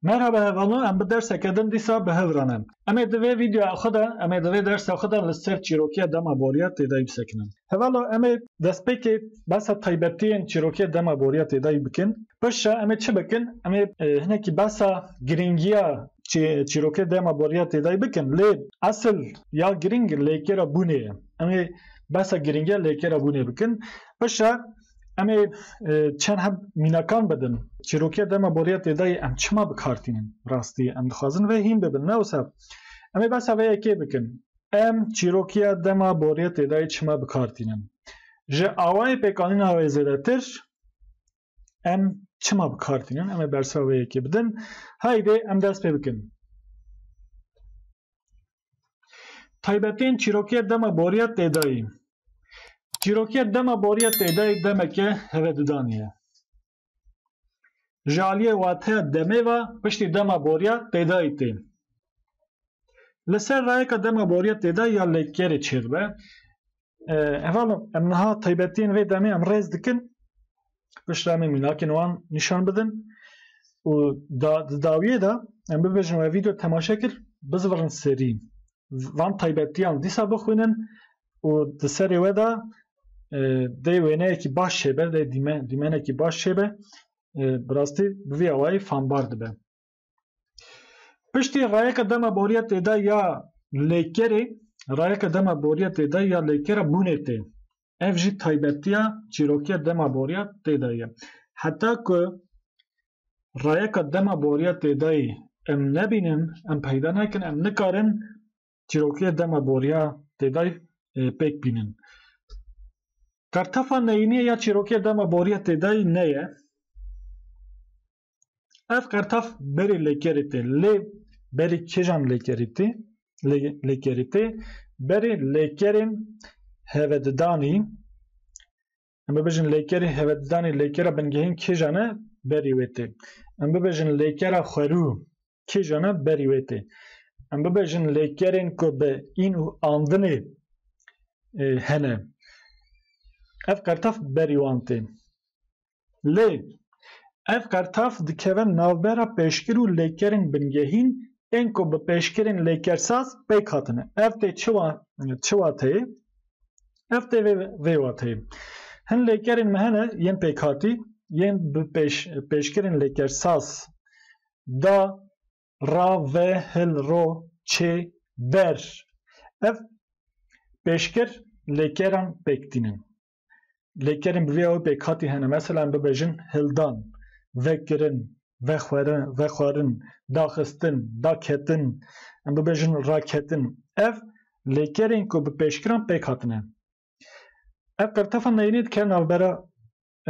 Merhaba hevano em bi derseke din dîsa bi hev re ne. Em ê di vê videoya xwe de em ê di vê dersa xwe de li ser çîrokiya dema boriya têdayî bisekinin. Hevalo em ê destpêkê behsa taybetiyên çîrokiya dema boriya têdayî bikin. Pişt re em ê çi bikin? Em ê hinekî behsa girîngiya çîrokiya dema boriya têdayî bikin. Lê esil ya girîng lêkêra bûnê ye. Em ê behsa girîngiya lêkerabûnê bikin. Paşa em ê e, çend heb mînakan bidin. Çîrokiya dema boriya têdayê em çima bikartînin rastî em dixwazin vê hîn bibin ne wisa. Em ê behsa vê yekê bikin. Em çîrokiya dema boriya têdayê çima bikartînin. Ji awayê pêkanîna wê zêdetir Em çima bi kar tînin? Em ê bersa wê yekê bidin. Haydê em dest pê bikin. Taybetên çîrokiyê dema boriya têdayî. Çîrokiyê dema boriya têdayî demeke hevedudanî ye. Ji aliyê wateya demê ve piştî dema boriya têdayî tê. Li ser rayeka dema boriya têdayî ya lêkerê çêdibe. Heval em niha taybetiyên vê demê em rêz dikin pişta em ê mînakên wan nîşan bidin û di dawiyê de em bibêjin we vîdeo temaşe kir bizivirin serî van taybetiyan dîsa bixwînin û di serê we de dê wêneyekî baş çêbe dê dîmenekî baş çêbe bi rastî bi vî awayî fanbar dibe. Piştî rayeke dema boriya têda ya lêkerê rayeke dema boriya têda ya lêkera bûnê tê. Ev jî taybetiya çîrokiya dema boriya têda ye. Heta ku rayeka dema boriya têdayê em nebînin, em peyda nakin, em nikarin çîrokiya dema boriya têdayê e, pêk bînin. Kartefa neyîniyê ya çîrokiya dema boriya têdayê ne ye. Ev qertaf berê lêkerê tê lê berê kêjan lêkerî tê lêkerî tê berê lêkerên hevedidanî em bibêjin lêkerê hevedidanî lêkera bingehên kêjan e berî wê tê em bibêjin lêkera xwerû kêjan e berî wê tê em bibêjin lêkerên ku bi în û andinê hene ev qertaf berî wan tê Lê ev qertaf dikeve navbera pêşkir û lêkerên bingehîn ên ku bi pêşkirên lêkersaz pêk hatine. Ev tê çi çi wateyê? Ev tê vê vê wateyê. Hin lêkerên me hene yên pêkhatî yên bi pêş pêşkirên lêkersaz da ra ve hil ro çê ber. Ev pêşkir lêkeran pêk tînin. lêkerên bi vê awê pêkhatî hene meselan bibêjin hildan, vekirin, vexwerin, vexwarin, daxistin, daketin, em bibêjin raketin ev lêkerên ku bi pêşkiran pêk hatine. Ev qirtefa neyînê dike navbera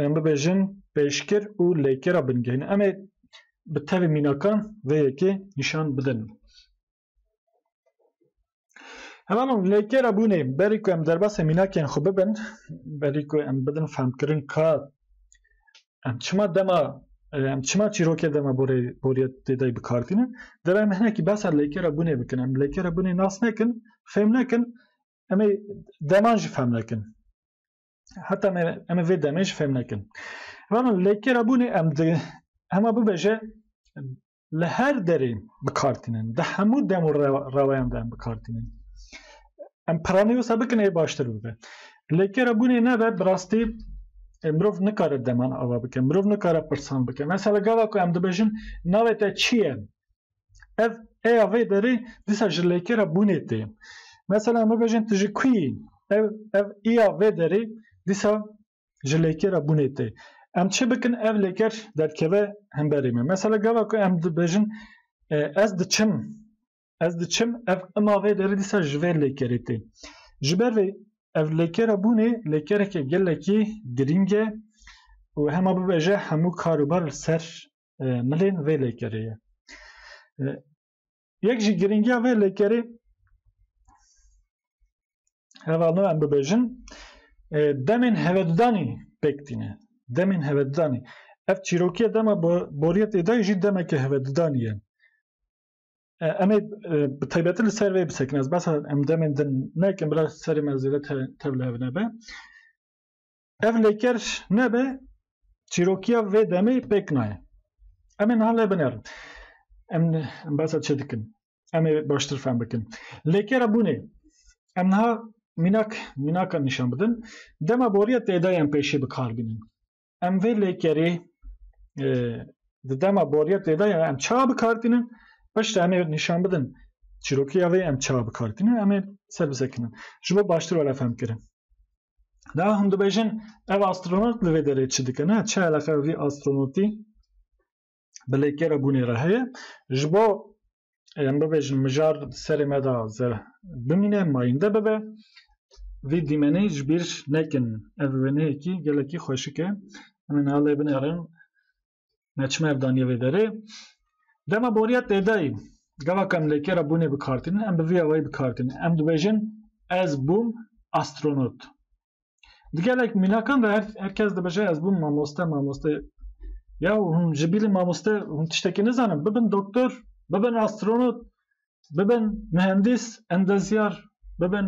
em bibêjin pêşkir û lêkera bingehîn. Em ê bi tevî mînakan vê yekê nîşan bidin. Hemen o lêkera bûnê berî ku em derbasê mînakên xwe bibin, berî ku em bidin femkirin ka em çima dema em çima çîrokê dema borê boriyê têdayî bikardînin, dev em hinekî behsa lêkera bûnê bikin. Em lêkera bûnê nas nekin, fêm nekin, em ê deman jî fem nekin. Heta me em ê vê demê jî fêm nekin. Hemen lêkera bûnê em di hema bibêje li her derê bi kar tînin. Di hemû dem û reweyan de em bi kar tînin. Em piranî wisa bikin ê baştir bibe. Lê ke re bûnê nebe bi rastî e, mirov nikare deman ava bike, mirov nikare pirsan bike. Mesela gava ku em dibêjin navê te çi ye? Ev eya vê derê dîsa ji lê ke re bûnê tê. Mesela em bibêjin tu ji ku yî? Ev ev îya vê derê dîsa ji lêkera bûnê tê. Em çi bikin ev lêker derkeve hemberê me. Mesela gava ku em dibêjin ez diçim ez diçim ev ima vê derê dîsa ji vê lêkerê tê. Ji ber vê ev lêkera bûnê lêkereke gelekî girîng e û hema bibêje hemû karobar li ser milên vê lêkerê ye. Yek jî girîngiya vê lêkerê hevalno em bibêjin e, demên hevedûdanî pêk tîne. Demên hevedûdanî. Ev çîrokiya dema boriyê tê dayî jî demeke hevedûdanî ye. E, em ê e, bi taybetî li ser vê bisekin. Ez behsa em demên din nekin, bila serê me zêde tevlihevine be. Ev lêker nebe çîrokiya vê demê pêk naye. Em ê niha lê binerin. Em basa çi dikin? Em ê baştir fem bikin. Lêkera bûnê em niha mînak mînakan nîşan bidin. Dema boriya têdayan pêşî bi kar bînin. Em vê lêkerê e, di dema boriya têdayan em ça bi kar tînin. Pişta em ê nîşan bidin. Çîrokiya vê em ça bi kar tînin. Em ê ser bisekinin. Ji bo baştir were fem kirin. Daha hûn dibêjin ev astronot li vê derê çi dike ne çi eleqe vî astronotî bi lêkêra bûnê re heye ji bo em bibêjin mijar serê me de bimîne mayînde bibe vî dîmenê ji bîr nekin ev wêneyekî gelekî xweşik e em ê niha lê binêrin Me çima ev daniye vê derê? Dema boriya têdayî gava kam lêkê ra bûnê bi kartînin em bi vî awayî bi kartînin em dibêjin ez bûm astronot. Di gelek mînakan de her, her kes dibêje ez bûm mamoste mamoste ya hûn ji bîlî mamoste hûn tiştekî nizanin bibin doktor bibin astronot bibin mühendis endezyar bibin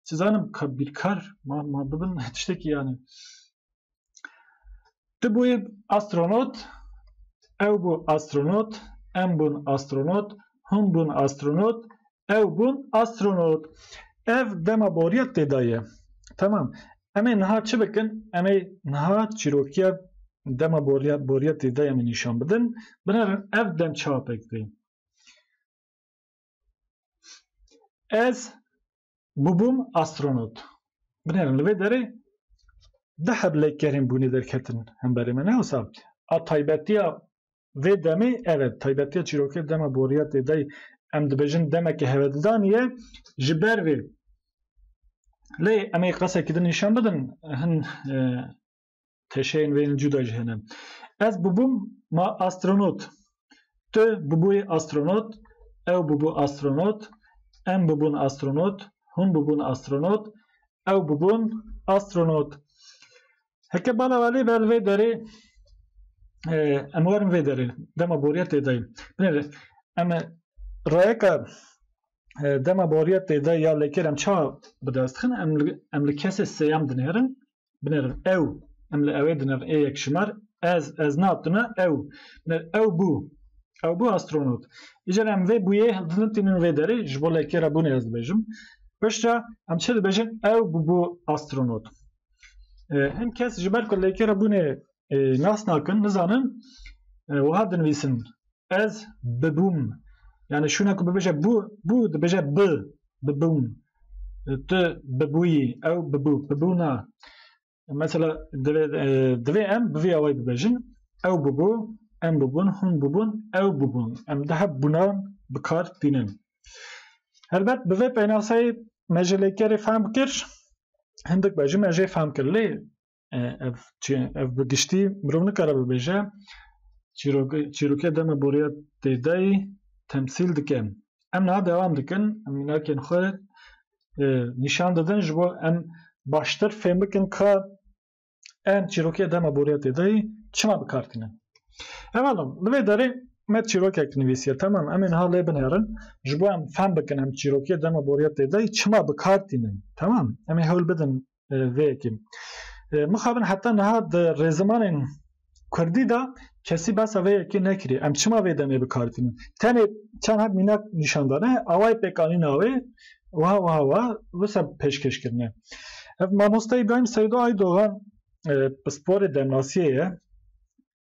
çizanim birkar ma, ma bibin tiştekî yani Tu bûyî astronot, ew bû astronot, em bûn astronot, hûn bûn astronot, ew bûn astronot. Ev dema boriya têda ye. Tamam. Em ê niha çi bikin? Em ê niha çîrokiya dema boriya boriya têda em ê nîşan bidin. Binêrin ev demçapek tê. Ez bûbûm astronot. Binêrin li vê derê di heb lêkerên bûnê derketin hemberê me ne wisa a taybetiya vê demê ev e taybetiya çîrokê dema boriya tê de em dibêjin demeke hevedildanî ye ji ber vê lê em ê qesekî din nîşan bidin hin teşeyên vê yên cuda jî hene. Ez bûbûm ma astronot. Tu bûbûyî astronot, ew bûbû astronot, em bûbûn astronot, hûn bûbûn astronot, ew bûbûn astronot. Heke bala welê vel vê derê em werin vê derê. Dema boriya têdayî. Binêre em rayeka dema boriya têdayî ya lêkêr em ça bi dest dixin em em li kesê sêyem dinêrin Binêrin ew. Em li ewê dinêrin ê yek şimar. Ez, ez na tune ew. Binêr ew bû. Ew bû astronot. Îcar em vê bûyê hildin tînin vê derê ji bo lekê re bûnê ez dibêjim. Pişta em çi dibêjin ew bû bû astronot. Hin kes ji ber ku lekê re bûnê nas nakin, nizanin wiha dinivîsin. Ez bibûm. Yani şûna ku bibêje bû, bû dibêje bi, bibûm. Tu bibûyî, ew bibû, bibûna. Mesela divê divê em bi vî awayî bibêjin. Ew bibû, em bûbûn, hûn bûbûn, ew bûbûn. Em daha bûnan bi kar tînin. Helbet bi vê pênaseyê me ji lêkerê fehm kir. Hindik be jî me jê fehm kir. Lê ev çi ev bi giştî mirov nikare bibêje çîrok çîrokê dema boriya têdayî temsîl dike. Em niha dewam dikin em mînakên xwe nîşan didin ji bo em baştir fêm bikin ka em çîrokê dema boriya têdayî çima bikar tînin. Hevala li vê derê me çîrokek nivîsiye temam em ê niha lê binêrin ji bo em fem bikin em çîrokê dema boriya têdayî çima bikar tînin. Temam em ê hewl bidin vê yekê. Mixabin heta niha di rêzimanên Kurdî de kesî behsa vê yekê nekirî. Em çima vê demê bikartînin? Tenê çend heb mînak nîşandane awayê pêkanîna wê wiha wiha wiha wisa pêşkêş kirine. Ev mamosta İbrahim Seydo Aydogan pisporê demnasiyê ye.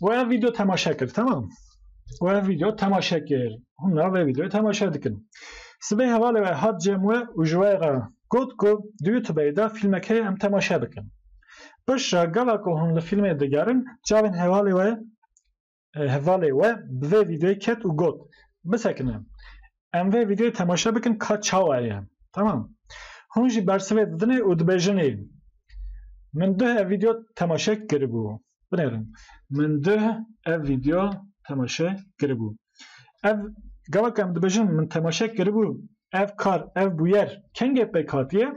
Wê ev video temaşe kir, tamam. Wê ev video temaşe kir. Hûn nav vê videoyê temaşe dikin. Sibê hevalê wê hat cem we û ji we re got ku di YouTube'ê de filmekê em temaşe bikin. Piştre gava ku hûn li filmê digerin çavên hevalê we hevalê we bi vê videoyê ket û got bisekine. Em vê vîdeoyê temaşe bikin ka çawa ye. Tamam. Hûn jî bersivê didinê û dibêjinê. Min duh ev vîdeo temaşe kiribû. Binêrin. Min duh ev vîdeo temaşe kiribû. Ev gava ke em dibêjin min temaşe kiribû ev kar, ev bûyer kengê pêk hatiye?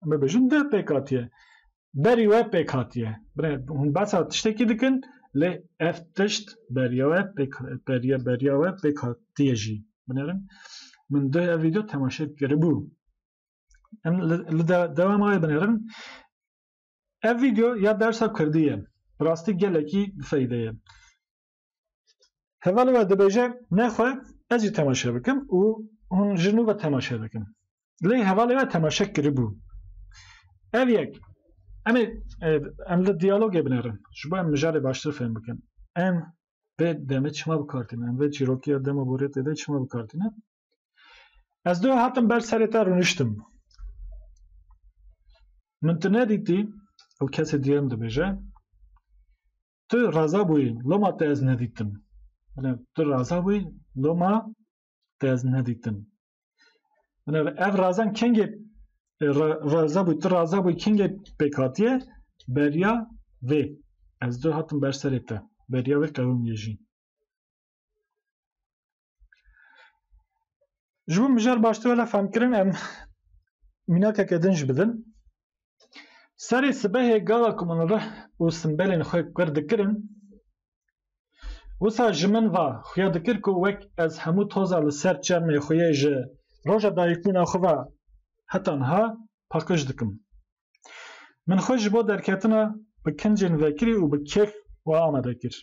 em ê bêjin di pêk hatiye. Berî we pêk hatiye. Bine hûn behsa tiştekî dikin lê ev tişt beriya we pêk beriya beriya we pêk hatiye jî. Binerin min di ev vîdeo temaşe kiribû. Em li dewama wê binerin. Ev vîdeo ya dersa Kurdî ye. Bi rastî gelekî bi feyde ye. Heval we dibêje nexwe ez jî temaşe bikim û hûn ji nû ve temaşe dikin. Lê hevalê we temaşe kiribû. Ev yek em ê e, em li diyalogê binerin ji bo em mijarê baştir fêm bikin. Em vê demê çima bikartînin, em vê çîrokiya dema borê tê de çima bikartînin. Ez dû hatim ber serê te rûniştim. Min tu nedîtî û kesê diyem dibêje Tu raza bûyî loma te ez nedîtim. Bila tu raza bûyî loma te ez nedîtim. Bila ev razan kengê raza bûyî tu raza bûyî kengê pêk hatiye beriya vê. Ez dû hatim ber serê te. Beriya vê qewim yê jî. Ji bo mijar baştir wele femkirin em mînakeke din jî bidin. Serê sibehê gava ku min rih û simbelên xwe kir dikirin, wisa ji min va xuya dikir ku wek ez hemû toza li ser çermê xwe yê ji roja dayikbûna xwe ve heta niha paqij dikim. Min xwe ji bo derketina bi kincên vekirî û bi kêf ve amade kir.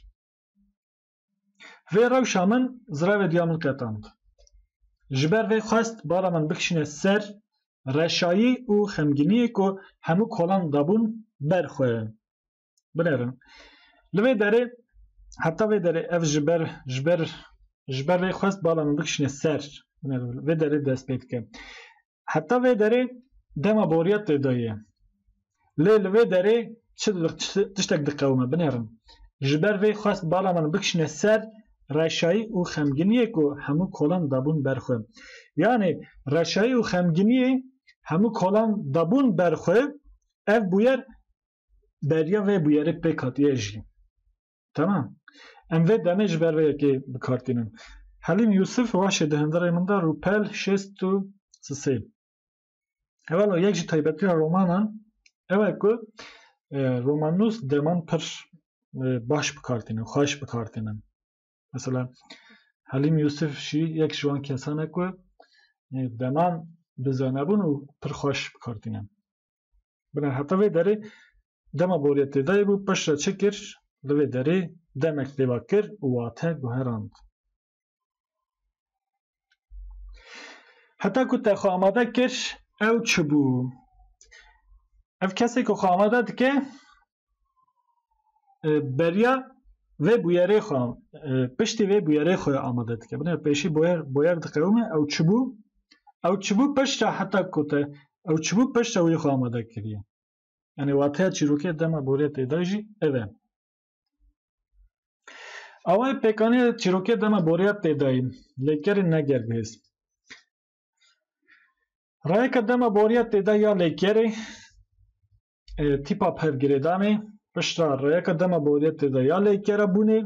Vê rewşa min zirevê diya min qetand. Ji ber vê xwest bala min bikişîne ser reşayî û xemgîniyê ku hemû kolan dabûn ber xwe. Binêrin. Li vê derê heta vê derê ev ji ber ji ber ji ber vê xwest bala min bikişîne ser. Binêrin. Vê derê dest pê dike. Heta vê derê dema boriya têdayê ye. Lê li vê derê çi dibe tiştek diqewime binêrin. Ji ber vê xwest bala min bikişne ser reşayî û xemginiyê ku hemû kolan dabûn ber xwe. Yanê reşayî û xemginiyê hemû kolan dabûn ber xwe ev bûyer beriya vê bûyerê pêk hatiye jî. Tamam. Em vê demê ji ber vê yekê bikartînin. Helîm Yûsif waşê di hundirê min de rûpel şêst û sisê. Evalo yek ji taybetiya romanan ew e ku e, romannûs deman pir e, baş bikartînin, xweş bikartînin. Mesela Helîm Yûsif jî yek ji wan kesan e ku e, deman bizanebûn û pir xweş bikartînin. Bine heta vê derê dema boriyê têdayê bû paş re çi kir? Li vê derê demek pêva kir û wate guherand. Heta ku te xwe amade kir ew çi bû? Ev kesê ku xwe amade dike beriya vê bûyerê xwe piştî vê bûyerê xwe amade dike. Binê pêşî boyer boyer diqewime ew çibû ew çibû pişta heta ku te ew çibû pişta wî xwe amade kiriye. Yanî wateya çîrokê dema borê tê de jî ev e. Awayê pêkanê çîrokê dema boriya tê de ye lê kerê ne ger bihêz. Rayeke dema boriya tê de ya lê kerê Tîpa pevgirêdanê pişta reyeka dema boriyetê de ya lêkera bûnê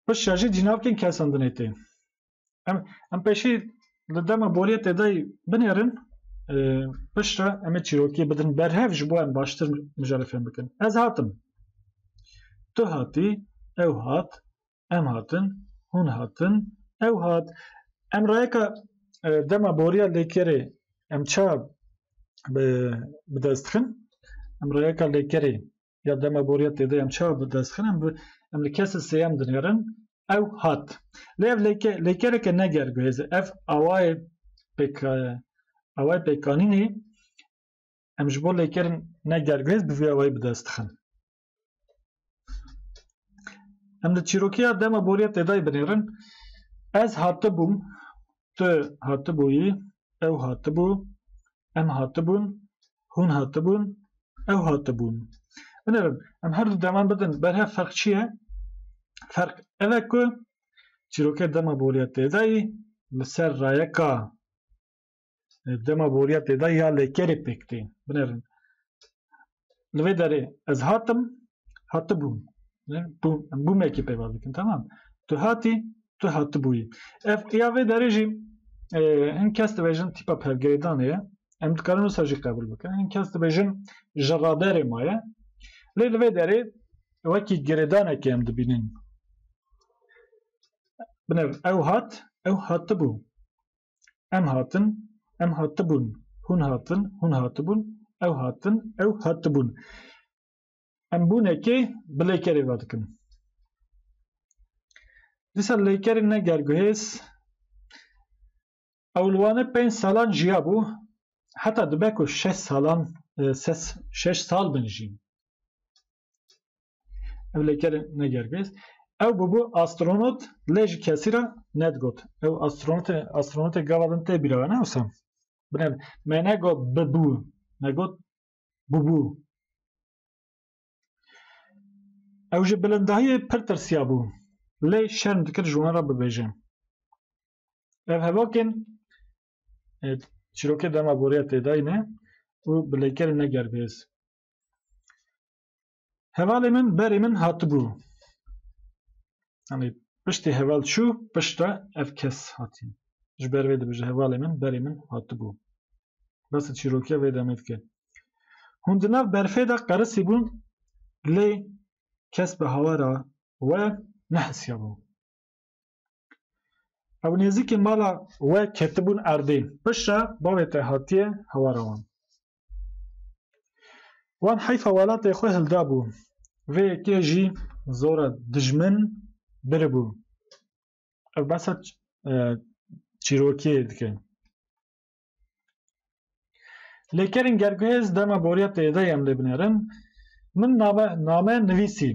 pişta jî cînavkên kesandinê tê. Em em pêşî li dema boriyetê de binêrin pişta em ê çîrokiyê bidin berhev ji bo em baştir mijarê fêm bikin. Ez hatim. Tu hatî, ew hat, Em hatin, hûn hatin, ew hat. Em rayeka e, dema boriya lêkerê em ça bi dest dixin, em rayeka lêkerê ya dema boriya têde em ça bi dest dixin, em em li kesê sêyem dinêrin, ew hat. Lê ev lêke lêkereke ne gerguhêze. Ev awayê pêk e, awayê pêkanînê em ji bo lêkerên ne gerguhêz bi vê awayî bi dest dixin. Em li çîrokiya dema boriya tedayî binêrin. Ez hatibûm, tu hatibûyî, ew hatibû, em hatibûn, hûn hatibûn, ew hatibûn. Binêrin, em her du deman bidin berhev ferq çi ye? Ferq ev e ku çîrokê dema boriya tedayî li ser rayeka dema boriya têda ya lêkerê pêk tê binerin. Li vê derê ez hatim hatibûm bûmekî pêva dikin tamam tu hatî tu hatibûyî ev ya vê derê jî e, hin kes dibêjin tîpa pergirêdanê ye em dikarin wisa jî qebûl bikin hin kes dibêjin ji raberê ma ye lê li vê derê wekî girêdanekê em dibînin binev ew hat ew hatibû Em hatin, em hatibûn. Hûn hatin, hûn hatibûn. Ew hatin, ew hatibûn. Em bûnekê bi lêkerê ve dikin. Dîsa lêkerê ne gerguhêz. Ew li Wanê pênc salan jiyabû. Heta dibe ku şeş salan, e, ses, şeş sal bin jî. Ev lêkerê negergêst. Ew bûbû astronot lê ji kesî re nedigot. Ew astronotê astronotê gava din tê bîra ne wisa. Bine me negot bibû me got bûbû. Ew ji bilindahiyê pir tirsiya bû. Lê şerm dikir ji wan re bibêje. Ev hevokên e, çîrokê dema boriya têdayîne û bi lêkerê negergêz. Hevalê min berê min hatibû. Yanî piştî heval çû piştre ev kes hatî. Ji ber vê dibêje hevalê min berê min hatibû. Besa çîrokiya vê demê dike. Hûn di nav berfê de qerisî bûn lê kes bi hawara we nehesyabû. Ew nêzîkî mala we ketibûn erdê. Piştre bavê te hatiye hewara wan. Wan heyfa welatê xwe hildabû. Vê yekê jî zora dijmin biribû. Ew behsa çîrokiyê dike. Lê kerên gerguhêz dema boriya têde em lê binerin. Min name, name nivîsî.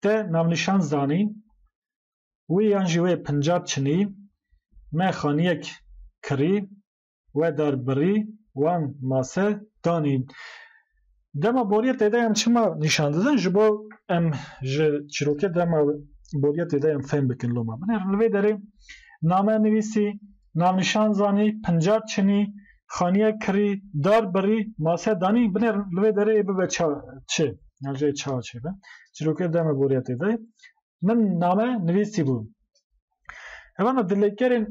Te navnîşan zanî. Wê yan jî wê pincab çinî. Me xaniyek kirî. We dar birî. Wan mase danî. Dema boriya tê de em çima nîşan didin ji bo em ji çîrokê dema boriya tê de em fêm bikin loma min li vê derê name nivîsî, navnîşan zanî, pincar çinî, xaniya kirî, dar birî, mase danî binêr li vê derê ê bibe ça çi. Navceyê ça çêbe. Çîrokê dema boriya tê de min name nivîsîbû. Hevana di lêkerên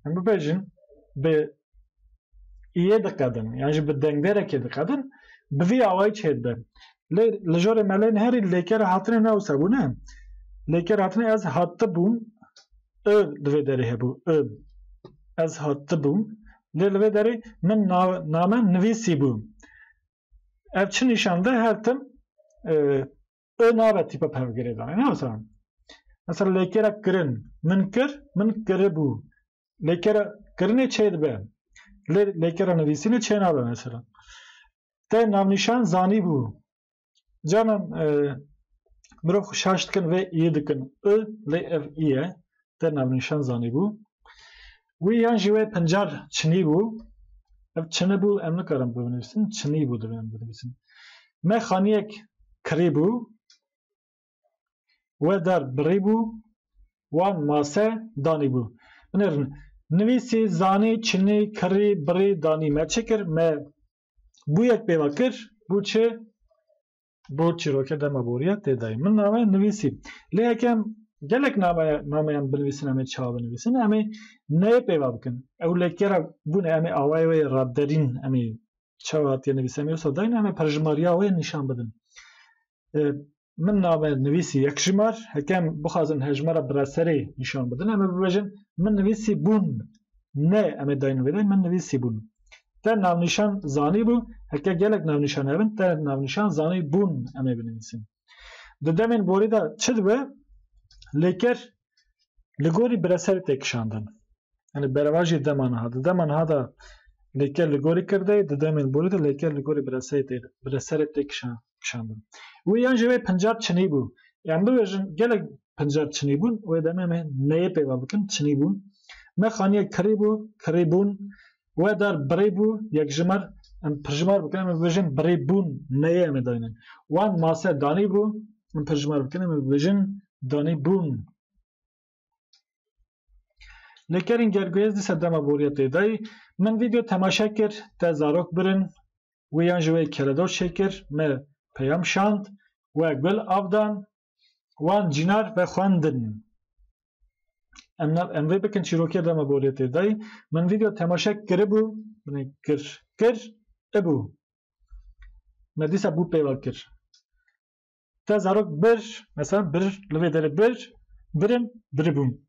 em bibêjin bi iyê diqedin yan jî bi dengderekê diqedin bi vî awayî çêd be. Lê li jorê me lê herî lêker hatine ne wisa bûne. Lêker hatine ez hatibûm û di vê derê hebû û ez hatibûm lê li vê derê min name nivîsîbû. Ev çi nîşan de her tim I nabe tîpa pevgirê danê. Ne mesela. Mesela lêkera kirin. Min kir, min kiribû. Lêkera kirinê çê dibe. Lê lêkera nivîsînê çê nabe mesela. Te navnîşan zanî bû. Canan e, mirov xwe şaş dikin vê î dikin. I lê ev î ye. Te navnîşan zanî bû. Wî yan jî wê pincar çinî bû. Ev çini bû em nikarin binivîsin, çinî bû divê em binivîsin. Me xaniyek kirîbû, we dar birîbû, wan mase danîbû. Binêrin, nivîsî, zanî, çinî, kirî, birî, danî. Me çi kir? Me bûyek pêva kir, bû çi? Bor çîroke dema boriya tê dayî. Min nameya nivîsî. Lê yeke gelek nameya nameyan binivîsin em ê çawa binivîsin? Em ê neyê pêva bikin. Ew lêkera bûne em ê awayê wê raderîn em ê çawa hatiye nivîs em ê wisa dayîn em ê perjimariya wê nîşan bidin. Min name nivîsî yek jimar. Heke em bixwazin hejmara bi reserê nîşan bidin em ê bibêjin min nivîsî bûn Ne em ê dayîn vêde min nivîsîbûn. Te navnîşan zanîbû, heke gelek navnîşan hebin te navnîşan zanîbûn em ê binivîsin. Di demên borî de çi dibe? Lê ker li gorî bi re serê tê kişandin. Yani berevajê dema niha. Di dema niha de lêker li gorî kirdeyê, di demên borî de lêker li gorî bi re serê tê kişandin. kişandin. Wê yan jî wê pincab çinî bû. Yan bibêjin gelek pincab çinî bûn wê demê me neyê pêva bikin çinî bûn. Me xaniyek kirî bû, kirî bûn. We dar birî bû, yekjimar em pirjimar bikin em ê bibêjin birî bûn neyê em ê daynin. Wan mase danî bû, em pirjimar bikin em ê bibêjin danî bûn. Li kerên gerguyê di serdema boriyê tê dayî min vîdeo temaşe kir te zarok birin wê yan ji wê keredor çêkir me peyam şand we gul av dan wan cînar ve xwendin em nav em vê bikin çîrokê dema boriyê tê dayî min vîdeo temaşe kiribû binê kir kir ibû me dîsa bû pêva kir Te zarok bir, mesela bir li vê derê bir, birin, biribûn.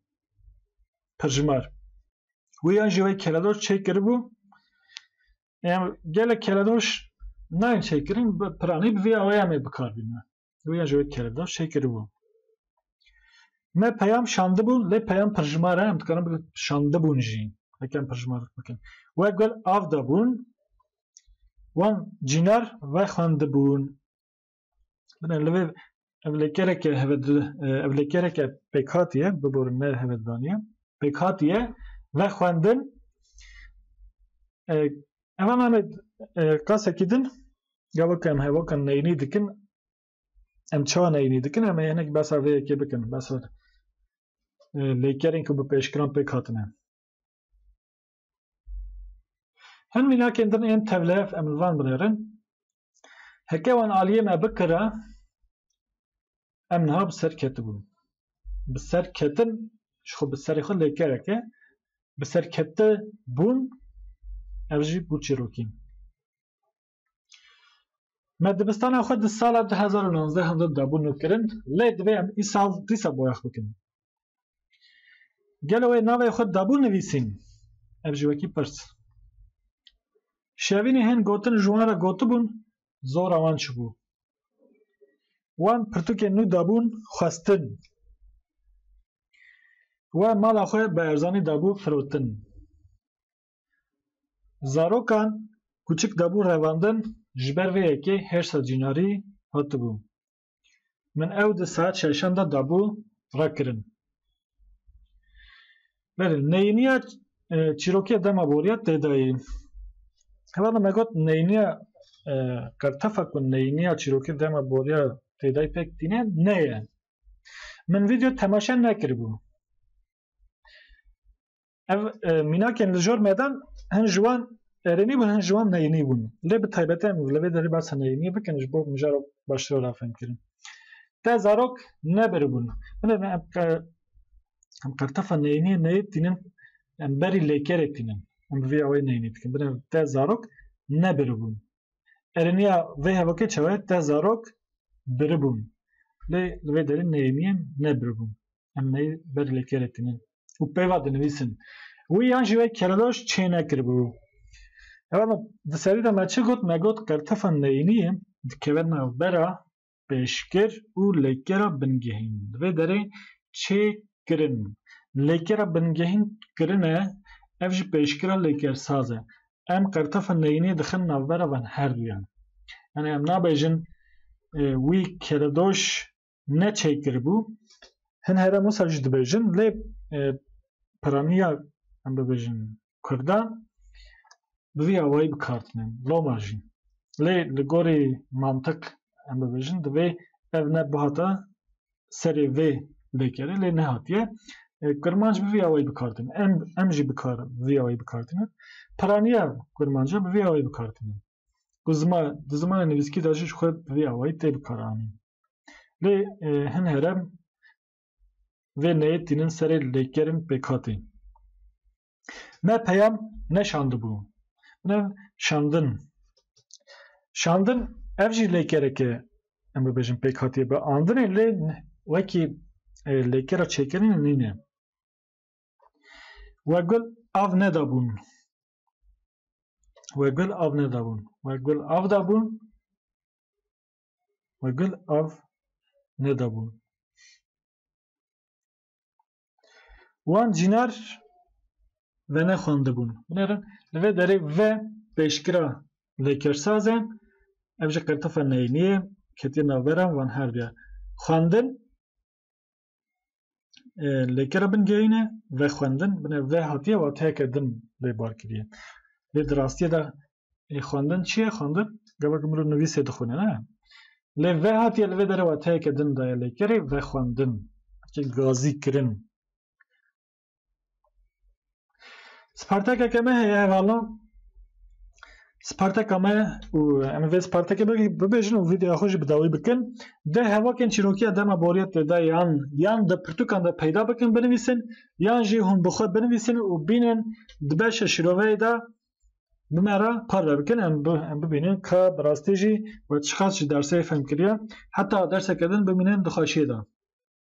Pirjimar. Wê yan jî wê keledor çê kiribû. Em gelek keledor nayên çê kirin, piranî bi vê awayê em ê bikar bînin. Wê yan jî wê keledor çê kiribû. Me peyam şandibûn, lê peyam pirjimar e, em dikarin bikin şandibûn jî. Hekem pirjimarlik bikin. We gul av dabûn, wan cînar vexwendibûn. Bine li vê ev lê kereke ev lê kereke pêk hatiye biborin ne hevedaniye pêk hatiye ve xwendin ema me qasekî din gavak em hevakan neynî dikin em çawa neynî dikin em hinek besa vê yekê bikin besa lêkerên ku bi pêşkiran pêk hatine Hin mînakên din ên tevlef em li van binêrin. Heke wan aliyê me bikira em niha bi ser ketibûn. Bi ser ketin ji xwe bi serê xwe lêkerek e. Bi ser ketibûn ev jî bû çîrokîn. Me dibistana xwe di sala du hezar û nonzdeh hindin de bû nûkirin, lê divê em îsal dîsa boyax bikin. Gelo wê navê xwe dabû nivîsîn? Ev ji wekî pirs. Şevînê hên gotin ji wan re gotibûn, zora wan çibû. Wan pirtûkên nû dabûn xwestin. We mala xwe bi erzanî dabû firotin. Zarokan kûçik dabû revandin ji ber vê yekê hêrsa cînarî hatibû. Min ew di saet şeşan de dabû rekirin. Belê neyîniya e, çîrokê dema boriya têdayî. Heva me got neyîniya e, qertefa ku neyîniya çîrokê dema boriya têdayî pek tîne neye. Min video temaşe nekiribû. Ev e, mînakên li jor medan hin ji wan erênî bûn hin ji wan neyînî bûn. Lê bi taybetî em li vê derî behsa neyîniyê bikin ji bo mijara baştir were fêmkirin. Te zarok nebiribûn. Min em em qertefa neyîniyê neyê tînin em berî lêkerê tînin. Em bi vê awayî neyînî dikin. Bin te zarok nebiribûn. Erêniya vê hevokê çawe te zarok biribûn. Lê li vê derî neyîniyên nebiribûn. em ney ber lê kêrê tinin û peyva dinivîsin. Wî yan jî wê kereloş çê nekiribû. Ewa me di serî de me çi got me got qertefa neyînî dikeve navbera pêşkir û lêkera bingehîn. Di vê derê çê kirin. Lêkera bingehîn kirin e ev jî pêşkira lêkersaz e. Em qertefa neyînî dixin navbera van herduyan. Yanî em nabêjin wî keredoş ne çêkiribû hin here Musa jî dibêjin lê piraniya em bibêjin Kurda bi vî awayî bi kar tînin loma jî lê li gorî mantiq em bibêjin divê ev ne bihata serê vê lêkerê lê nehatiye kurmanc bi vî awayî bi kar tînin em em jî bi kar vî awayî bi kar tînin piraniya kurmanc bi vî awayî bi kar tînin. ku ziman di zimana nivîskî de jî ji xwe bi vê awayî tê bikaranîn. Lê e, hin herem vê neyê tînin serê lêkerên pêkhatê. Me peyam neşandibû. Bine şandin. Şandin ev jî lêkereke em bibêjin pêkhatê bi andinê lê wekî e, lêkera çêkirinê nîne. We gul av nedabûn. We gul av nedabûn. We gul av dabûn. We gul av nedabûn. Wan cînar venexwendibûn. Binêrin li vê derê ve pêşgira lêkersaz e. Ev jî qirtifa neyînî ye. Ketiye navbera wan her duyan. Xwendin lêkera bin geyîne ve xwendin bine ve hatiye wateyeke din lê bar kiriye lê di rastiyê de xwendin çi ye xwendin gavek mirov nivîsê dixwîne ne lê ve hatiye li vê derê wateyeke din daye lêkerê ve xwendin gazî kirin Spartakeke me heye hevala. Spartaka me û em vê Spartakê bibêjin û videoya xwe jî bi dawî bikin. Di hevokên çîrokiya dema boriyet tê de yan yan di pirtûkan de peyda bikin binivîsin yan jî hûn bi xwe binivîsin û bînin di beşa şîroveyê de bi me re parve bikin em em bibînin ka bi rastî jî we çiqas jî dersê fem kiriye heta derseke din bimînin di xweşiyê de.